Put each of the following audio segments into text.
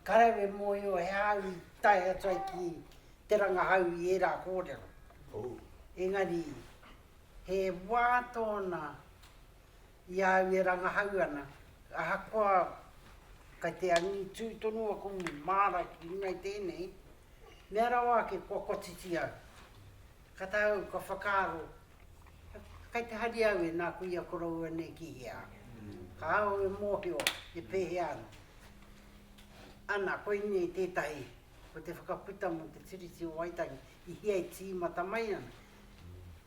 Ka rawe mōhio he āu i tae atu ai ki te rangahau i ērā kōrero. Engari, he wā tōna i a au e rangahau ana, ahakoa kei te angitū tonu aku māra ki runga i tēnei, mea rawa ake kua kotiti au. Ka tae au ka whakaaro, kai te hari au e nā kuia koroua nei ki hea? Ka au e mōhio he pēhea ana. Ana, koinei tētahi, ko te whakaputa mō te Tiriti o Waitangi i hea e tīmata mai ana.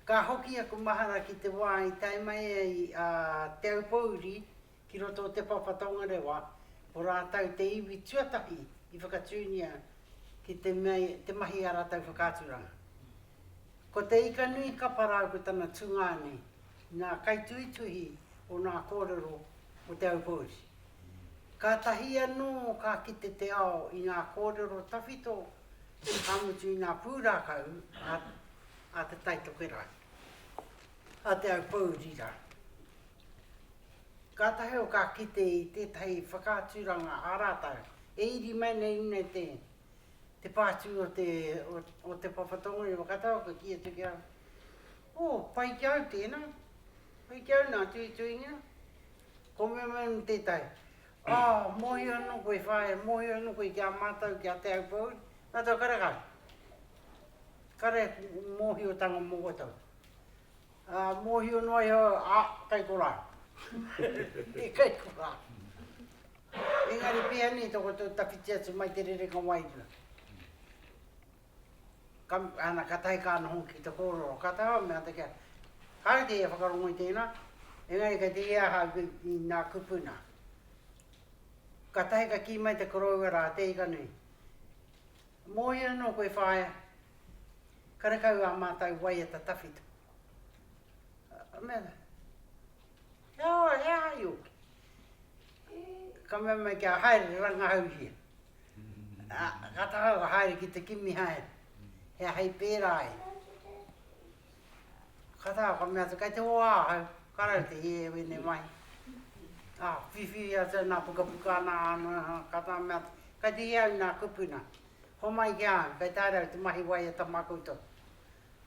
Ka hoki aku mahara ki te wā i tae mai ai a Te Aupōuri Ki roto o Te Papa Tongarewa, ko rātou te iwi tuatahi i whakatūngia ki te mea te mahi a rātou whakaaturanga. Ko Te Ikanui Kapa rāu ko tana tungāne ngā kaituhituhi o ngā kōrero o Te Aupōuri. Kātahi anō ka kite te ao i ngā kōrero tawhito, ka mutu i ngā pūrākau a Te Tai Tokerau. a Te Aupōurira. Kātahi au ka kite i tētahi whakaaturanga a rātou e iri mai nei nei te te pātū o te o te papa tonga i Whakatau ka kī atu ki au o pai ki au tēnā pai ki au nā tuituinga ko me me me tētahi a mohi anō koe whae mohi anō koe ki a mātou ki a Te Aupōuri mātou kare kare kare mohi o tanga mō koutou Ā, mōhio noa iho, ā, kei korā. I kei korā. Engari pēhea nei tō koutou tawhiti atu mai te rerenga wairua? Ka, ana, ka tahi ka noho ki te kōrero. Ka taha au, me āta kia, kāre te ia whakarongo i tēnā, engari kei te ia aha i, i nā kupu nā. Ka tahi ka kī mai te koroua rā, te ika nui, Mōhio anō koe whaea, karekau ā mātou waiata tawhito. Ka mea rā, He aha, he aha i ōki? Ka mea mai, Kia haere rangahauhia. Ka taha au ka haere ki te kimi haere, he aha i pērā ai? Kata, ka mea atu, kei te hoa ahau, ka rau te hie e wene mai. A, whiwhiri atu ana pukapuka ana, kata ka mea atu, kei te hie au na kupuna, homai ki a au, kei te haere au te mahi waiata ma koutou,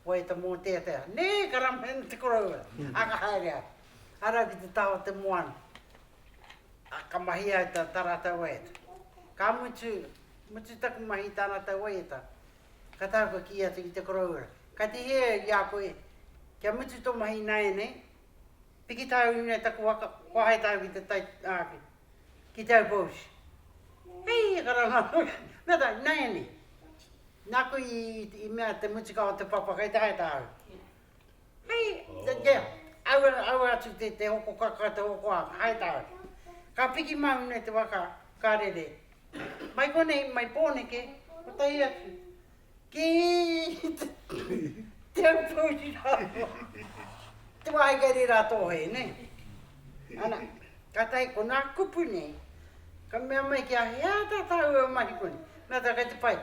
waiata moteatea. Ne, ka rame ana te koroua, a ka haere au, ka rau ki te taha o te moana, a ka mahi au ta ratou waiata. Ka mutu, mutu taku mahi ta ratou waiata, Ka taea koe kī atu ki te koroua, Ka tihia i a koe, kia mutu tō mahi ināianei, piki tāu nei taku waka, kua hae tāu ki te tai, ā, ki te aupōushi. Hei, ka rangā koe, nā tā, ināianei, nāku i, i mea te mutuka o te papa kei te hae tāu. Hei, te tea, aua, aua atu te, te hoko kaka, te hoko anga, hai tāke. Ka piki māu nei te waka, ka rere. Mai konei, mai Pōneke, kotahi atu, ki Te Aupōuri rāua. Te wāhi kei reira a Tōhē, nē. Ana, kātahi ko nā kupu nei, ka mea mai kia, he aha tā tāua mahi konei? Mea tā, kei te pai.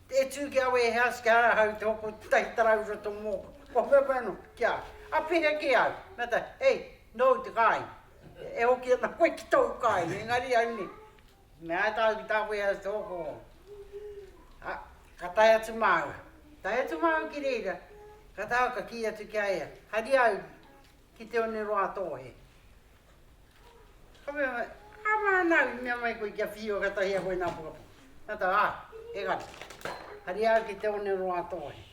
E tū ki au e House kia rāhau te hoko tahi tarau i roto mōku. Kua wheawhea anō ki a au. Apiria ki au. Me ata, Hei, nōu te kāinga. E hoki ana koe ki tōu kāinga, engari au nei. Me āta au ki tā warehouse te hoko. A, ka tae atu māua. Tae atu māua ki reira, ka tae au ka kī atu ki a ia, Haria au, Ki te one roa tō he. Ka mea mai, Ā mānau, i mea mai koe kia whiua katahi a koe nā pukapuka. Ka tau, Ā, engari, haria au ki te one roa tō he.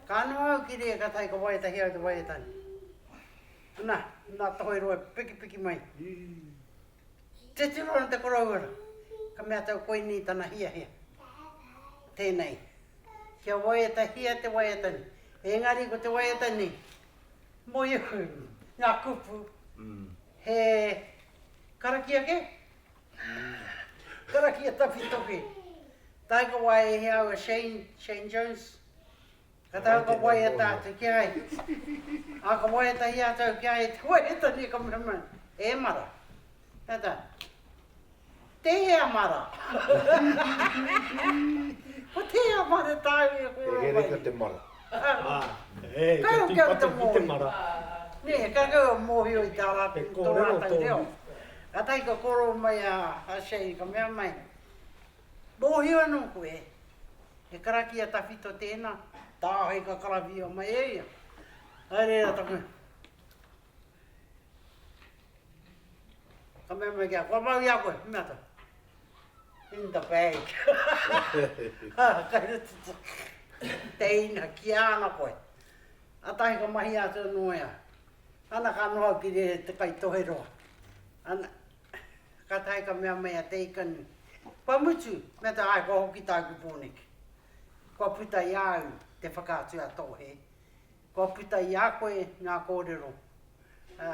Ka noa au ki reira katahi ka waia tahi au te waiatane. Ana, nā Tohoi Roa e pikipiki mai. Te tiro ana te korouara, ka mea tau koinei tana hiahia. Tēnei, kia waia tahia te waiatane. Engari ko te waiatane Moehu, nga kupu, he karakia ke? Karakia tawhito ke. Taika wai e hea au e Shane, Shane Jones, ka taika waia tatou ki a ia. A ka waia tahi a tau ki a ia, te waia tane ka mea mai, e mara. Tata. Tehea mara. Ko tehea mara taau ia koro mai. He reka te mara. Kai hoki au te mohi. Ne, kai koe o mohio i ta ratou, to ratou reo. Katahi ka koro mai a Shane ka mea mai, Mohio ano koe, he karakia tawhito tena, tahi ka karawhia mai e ia. Kai reira taku. Ka mea mai ki a, kua mau i a koe, me ata. In the bag. Kare te teina ki ana koe. Atahi ka mahi atu ano ea. Ana ka noho ki re te kai toheroa. Ana, ka tahi ka mea mai a te ikani, kua mutu, me ata ai kua hoki taku poneke. Kua puta i a au te whakatu a Tohe. Kua puta i a koe ngā kōrero, ā,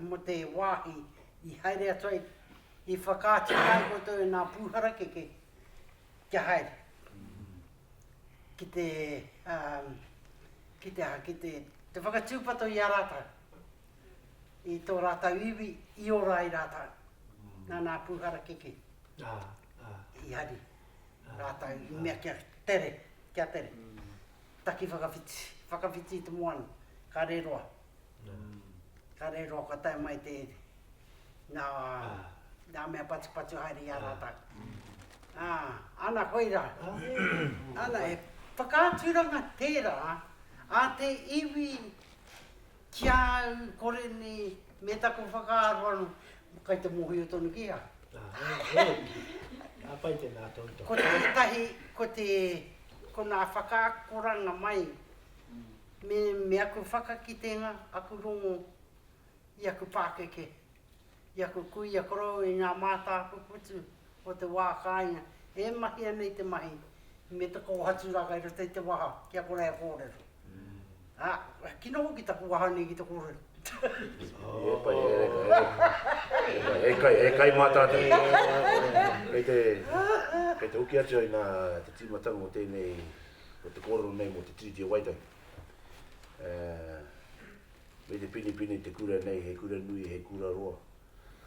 mō te wāhi i haere atu ai, i whakaaturanga ai koutou e ngā pū harakeke kia haere, ki te, ā, ki te aha, ki te, te whakatūpato i a rātou, i tō rātou iwi, i ora ai rātou, nā ngā pū harakeke i hari rātou i mea kia tere, kia tere. Taki whakawhiti, whakawhiti i te moana, ka re roa. Ka re roa kua tae mai te ere. Na, na mea patupatu haere i a ratou. A, ana koe ra. Ana, he whakaaturanga tera a te iwi. Ki a au, kore nei, me taku whakaaro ano, kai te mohio tonu ki a. Āe, e. Ka pai tēnā tautoko. Ko tētahi, ko te, ko nā whakaakoranga mai, me, me aku whakakitenga, aku rongo i aku pākeke. I aku kuia korou i ngā mātāpuputu o te wā kāinga e mahia nei te mahi me te kōhaturaka i roto i te waha ki a kore e kōrero. Ā, he kino hoki taku waha nei ki te kōrero. He pai, he kai, he kai mā tātou. Kei te, kei te hoki atu ai nā te tīmatanga o tēnei, o te kōrero nei mō te Tiriti o Waitangi. Me te pinepine te kura nei he kura nui he kura roa.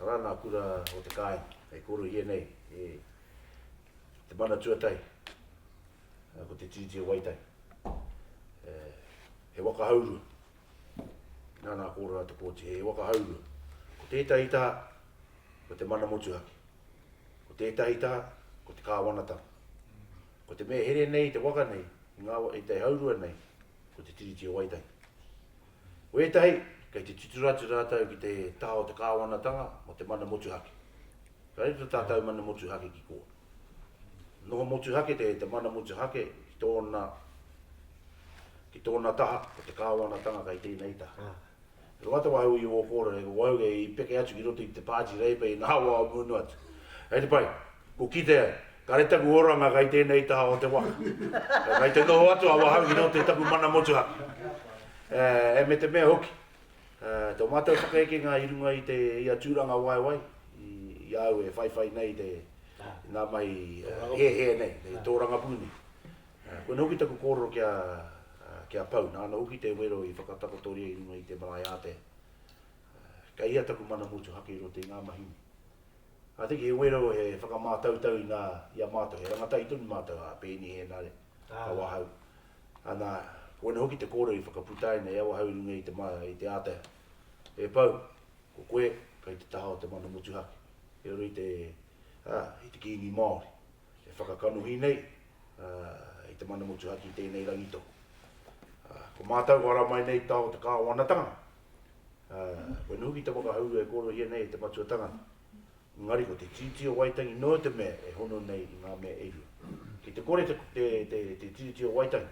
Arā ngā kura o te kāinga e korohia nei e Te Mana Tuatahi, ko te Tiriti o Waitangi. He waka haurua, inā nā kōrara te kōti, he waka haurua. Ko tētahi tā, ko te mana motuhake. Ko tētahi tā, ko te kāwanatanga. Ko te mea here nei i te waka nei, i ngā, i te haurua nei, Ko te Tiriti o Waitangi. Ko ētahi, kei te titiro atu rātou ki te taha o te kāwanatanga mō te mana motuhake. Ka riro tātou mana motuhake ki kō. Noho motuhake te te mana motuhake ki tōna ki tōna taha ko te kāwanatanga kei tēnei taha. He koa te wahau i ō kōrere, ko wahau kei peke atu ki roto i te Pāti Reipa i ngā wā o munu atu. Kei te pai, kua kite ai, kāre taku oranga kei tēnei taha o te waka. Kei te noho atu a wahau ki roto i taku mana motuhake. E me te mea hoki, tō mātou whakaekenga i runga i te ia tūrangawaewae i a au e whaiwhai nei i te, i ngā mahi hēhē nei, i te tōrangapū nei. Koinei hoki taku kōrero ki a, ki a Pau, nāna hoki te wero i whakatakotoria i runga i te marae ātea. Kei hea taku mana motuhake i roto i ngā mahi nei? I think he wero he whakamātautau i ngā, i a mātou, he rangatahi tonu mātou, a Peeni Hēnare, a Wahau. Ana, koinei hoki te kōrero i whakaputaina e Awahau i runga i te, i te ātea. E Pau, ko koe kei te taha o te mana motuhake, i roto i te, ā, i te Kīngi Māori. E whakakanohi nei, ā, i te mana motuhake i tēnei rangi tohu. Ā, ko mātou whara mai nei tā o te Kāwanatanga, ā, kua noho ki te whakahaurua e kōrerohia nei e te matua tangata. Engari ko te Tiriti o Waitangi noa te mea e hono nei i ngā mea e rua. Ki te kore te, te, te, te Tiriti o Waitangi,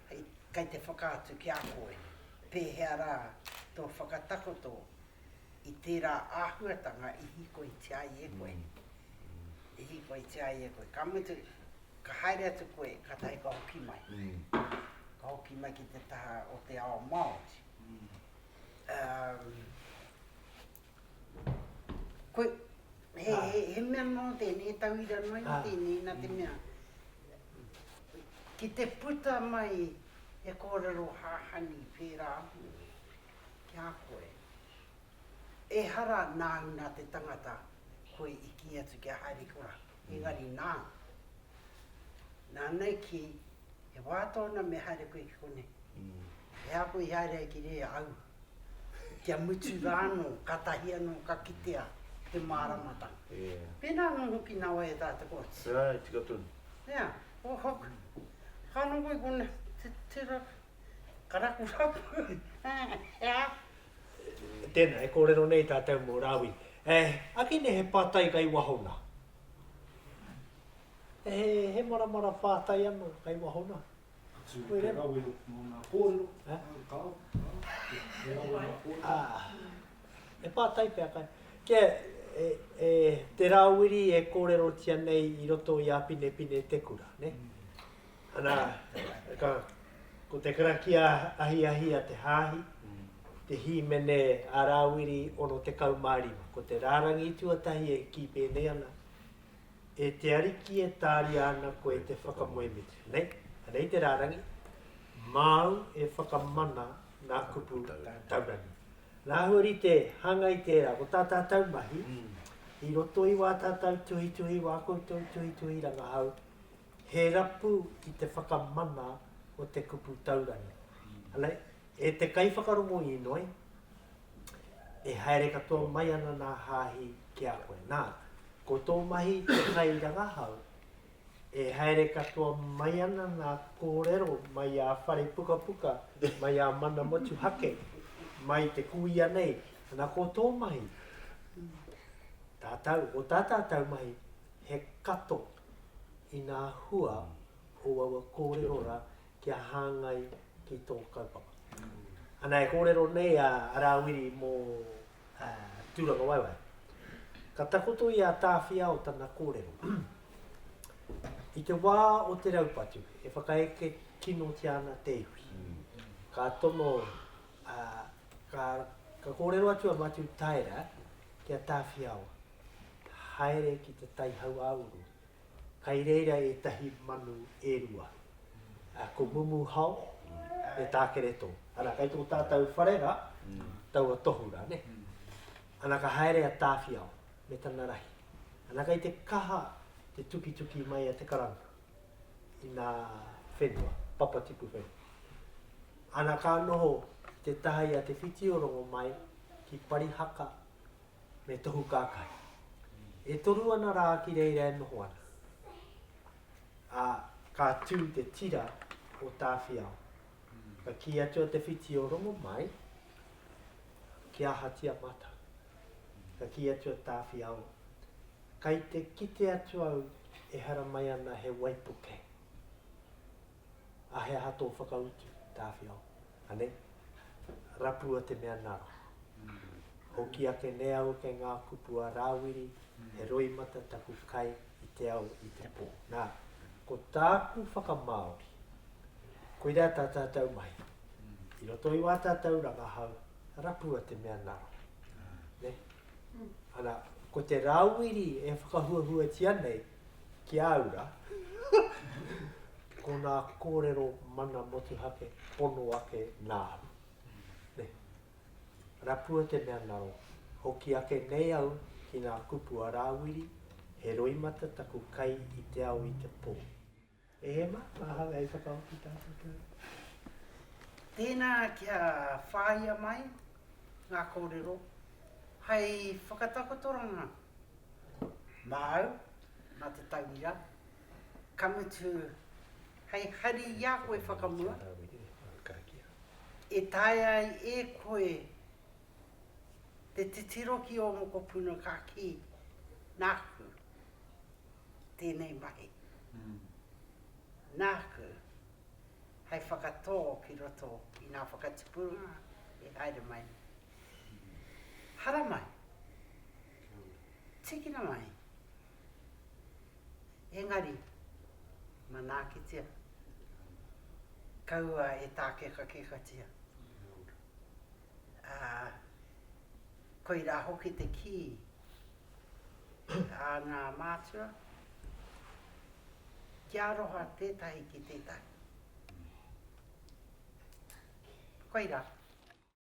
Kei te whakaatu ki a koe pēhea rā tō whakatakoto i tērā āhuatanga i hīkoitia ai e koe, i hīkoitia ai e koe. Ka mutu, ka haere atu koe, kātahi ka hoki mai, ka hoki mai ki te taha o te ao Māori. Koe, he, he, he mea nō tēnei tauira noa i tēnei, nā te mea, ki te puta mai he kōrero hahani whērā ahau ki a koe, ehara nāu nā te tangata koe i kī atu kia haere ki ō rātou. Engari nā, nāna i kī, He wā tōna me haere koe ki konei. He aha koe i haere ai ki reira? Aua. Kia mutu rā anō, kātahi anō ka kitea te māramatanga. Pēnā anō hoki nā wai e tā te kooti. Āe, tika tonu. Nā, o hoku. Ka noho i konei, titiro, ka rakuraku, he aha? Tēnā, e kōrero nei tātou mō Rāwi. E, ake nei he pātai kai wahona. E, he, he maramara pātai ano kai wahona. Atu mō te rawe mō ngā kōrero, eh? kāo, kāo, e rawe mā kōrero. Ah, e pātai pia kai. Kia, e, e, te rāwiri e kōrerotia nei i roto i a Pinepine Te Kura, ne? Mm. Ana, ka, ko te karakia ahiahi a te Hāhi, te hīmene a Rāwiri 65, ko te rārangi tuatahi e kī pēnei ana, E te Ariki e tāria ana koe te whakamoemitu. Nei, anei te rārangi, Māu e whakamana ngā kupu taurangi. Nā āhua rite, hāngai tērā, ko tā tātou mahi, i roto i wā tātou tuhituhi, wā koutou tuhituhi rangahau, He rapu ki te whakamana o te kupu taurangi. E te kaiwhakarongo inoi, e haere katoa mai ana nā Hāhi ki a koe. Nā, ko tō mahi te kairangahau, e haere katoa mai ana ngā kōrero mai ā Wharepukapuka, mai ā Mana Motuhake, mai te kuia nei, ana ko tō mahi, tātau, ko tā tātau mahi, he kato i ngā hua o aua kōrero rā kia hāngai ki tō kaupapa. Ana e kōrero nei a Rāwiri mō Tūrangawaewae. Ka takoto i a Tāwhiao tana kōrero. I te wā o te raupatu, e whakaeke kinotia ana te iwi. Ka tono, ka kōrero atu a Matiu Taera ki a Tāwhiao. ka haere ki te tai hauāuru, kai reira ētahi manu e rua, ā, ko Mumuhao me Tākereto. Ana, kai tō tātou whare rā, taua tohu rā, nē. Ana, ka haere a Tāwhiao me tana rahi. Ana, kai te kaha te tukituki mai a Te Karanga i nā whenua, papatipu whenua. Ana, ka noho te taha i a Te Whiti-o-Rongo mai ki Parihaka, me tohu kākahi. E toru ana rā ki reira e noho ana, ā, ka tū te tira o Tāwhiao. Ka kī atu a Te Whiti o Rongomai, Ki ahatia mātou? Ka kī atu a Tāwhiao, Kai te kite atu au ehara mai ana he waipuke. A he aha tō whakautu, Tāwhiao? Anei, Rapua te mea nara. Hoki ake ne au kei ngā kupu a Rāwiri, he roimata taku kai i te ao i te pō. Nā, ko tāku whakamāori, koirā tā tātou mahi. I roto i wā tātou rangahau, rapua te mea nara. Nē? Ana, ko te Rāwiri e whakahuahuatia nei, ki a au rā, ko nā kōrero mana motuhake pono ake nā au. Nē. Rapua te mea ngaro, hoki ake nei au ki ngā kupu a Rāwiri, he roimata taku kai i te ao i te pō. E Emma, ahau hei whakaoti tātou. Tēnā kia whāia mai ngā kōrero hei whakatakotoranga māu mā te tauira, ka mutu hei hari i a koe whakamua e taea ai e koe te titiro ki ō mokopuna ka kī, nāku. tēnei mahi. Nāku, hei whakatō ki roto i ngā whakatipuranga i haere mai. Haramai, tīkina mai, engari, manaakitia, kaua e tākekakekatia. Ā, koirā hoki te kī. a ngā mātua ki aroha tētahi ki tētahi. Koirā.